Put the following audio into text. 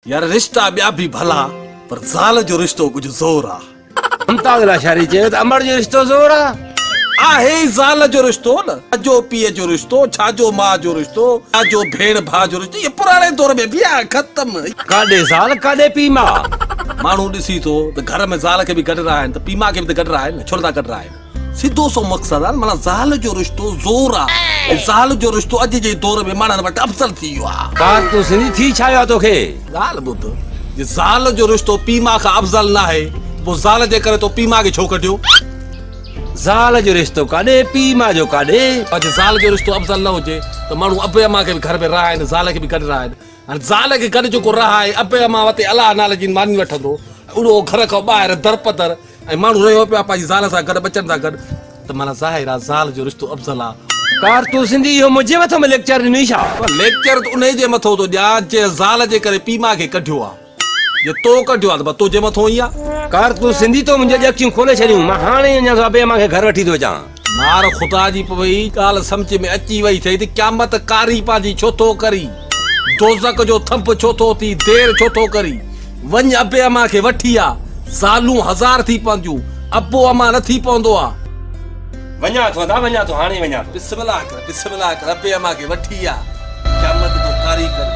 يار رشتا ٻيا به ڀلا پر زال جو رشتو ڪجهه زور آ. ممتاز لاشاري چيو ته امڙ جو رشتو زور آ. آهي ئي زال جو رشتو نه ڇا جو پيء جو رشتو ڇا جو ماء جو رشتو ڇا جو ڀيڻ ڀاء جو رشتو اهي پراڻي دور ۾ به آ ختم. ڪاڏي زال ڪاڏي پيء ماء. ماڻهو ڏسي ٿو ته گهر ۾ زال کي به گڏ راهين ته پيء ماء کي به ته گڏ راهين نه ڇو نه ٿا گڏ راهين. سڌو سو مقصد آ معنيٰ زال جو رشتو زور آ ۽ زال جو رشتو اڄ جي دور ۾ ماڻهن وٽ افضل ٿي ويو آ. پار تون سنڌي ٿي ڇا ويو آ توکي. ڳالهه ٻڌ جي زال جو رشتو پي ماء کان افضل ناهي ته پو زال جي ڪري تو پي ماء کي ڇو ڪڍيو. زال جو رشتو ڪاڏي پي ماء جو ڪاڏي. پر جي زال جو رشتو افضل نه هجي ته ماڻهو ابي امان کي به گهر ۾ رهائين زال کي به گڏ رهائين هاڻي زال کي گڏ جيڪو رهائي ابي امان وتي الله نالي جي ماني وٺندو ۽ اهو گهر کان ٻاهر درپدر ۽ ماڻهو رهيو پيو آهي پنهنجي زال سان گڏ ٻچن سان گڏ ته معنيٰ ظاهر آهي زال جو رشتو افضل آهي. ڪار تون سنڌي اهو منهنجي مٿو ۾ ليڪچر ڏني ڇا؟ پر ليڪچر ته انهي جي مٿو ٿو ڏيان جنهن زال جي ڪري پيء ماء کي ڪڍيو آهي جي تو ڪڍيو آهي ته بس تنهنجي مٿو ئي آهي. ڪار تون سنڌي تو منهنجي جي اکيون کولي ڇڏيون مان هاڻي ئي اڃان صبح مانگي گهر وٺي ٿو اچان. مار خدا جي پوي هي ڳالهه سمجهه ۾ اچي وئي ٿئي ته قيامت ڪاري پنهنجي ڇو ٿو ڪري؟ دوزخ جو ٿنڀ ڇو ٿو ٿي؟ دير ڇو ٿو ڪري؟ وڃ ابي امان کي وٺي آ. زالون هزار ٿي پونديون، ابو امان نه ٿي پوندو آ. وڃان ٿو ادا، وڃان ٿو، هاڻي ئي وڃان ٿو. بسم الله ڪر، بسم الله ڪر، ابي امان کي وٺي آ. قيامت جو ڪاري ڪري.